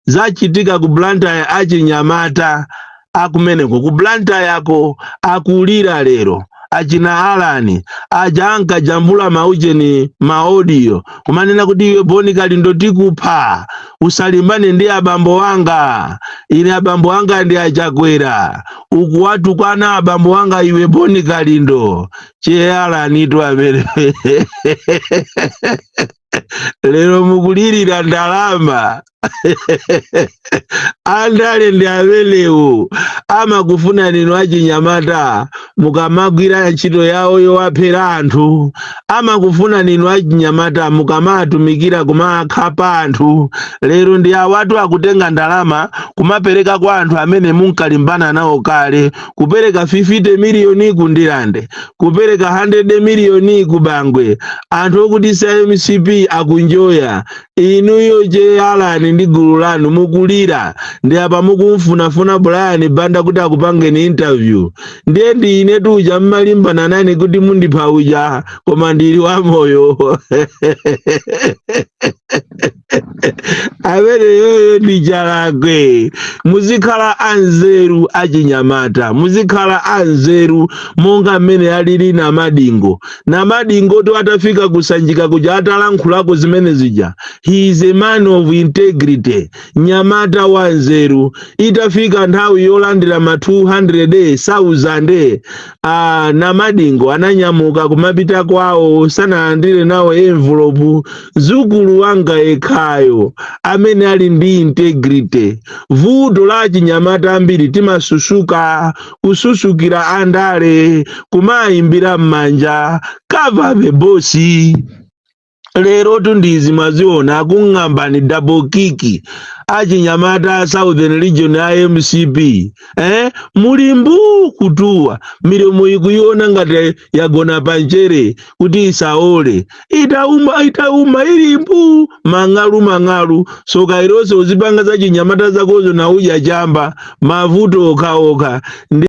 zachitika ku blantyre achinyamata akumeneko ku blantyre yako akulira lero achina alani aja ankajambula maujeni ma audio kumanena kuti iwe boni kalindo tikupha usalimbane ndi abambo wanga ine abambo wanga ndi achakwera ukuwatukwana abambo wanga iwe boni kalindo che alanitu amene lero mukulirira ndalama andale ndi amenewo amakufunani inu achinyamata mukamagwira ntchito yawo yowaphera anthu amakufunani inu achinyamata mukamawatumikira kumakhapa anthu lero ndi awatu akutenga ndalama kumapereka kwa anthu amene munkalimbana nawo kale kupereka 50 miliyoni ku ndirande kupereka 100 miliyoni ku bangwe anthu okuti si a mcp akunjoya inuyo che alani ndi gulu lanu mukulira ndi apa mukumfunafuna brian banda kuti akupangeni interview ndiye ndi ine tuja mumalimbana nane kuti mundipha uja koma ndili wamoyo ameneyoyo ndi chalakwe muzikhala anzeru achinyamata muzikhala anzeru monga mmene alili namadingo namadingotu atafika ku sanjika kuja atalankhulako zimene zija he is a man of integrity nyamata wa nzeru itafika nthawi yolandira ma 200,000 a namadingo ananyamuka kumapita kwawo sanalandire nawo envelope zukulu wanga yekhayo amene ali ndi integrity vuto la achinyamata ambiri timasusuka kususukira andale kumawayimbira m'manja cover the boss lerotu ndi izi mwaziona akung'ambani double kick achinyamata a southern region a mcp eh? muli mbuu kutuwa milomo yikuyiwona ngati yagona panchere kuti isaole itauma itauma ili mbuu mang'alu mang'alu soka ilo so uzipanga zachinyamata zakozo na udya chamba mavuto okhaokha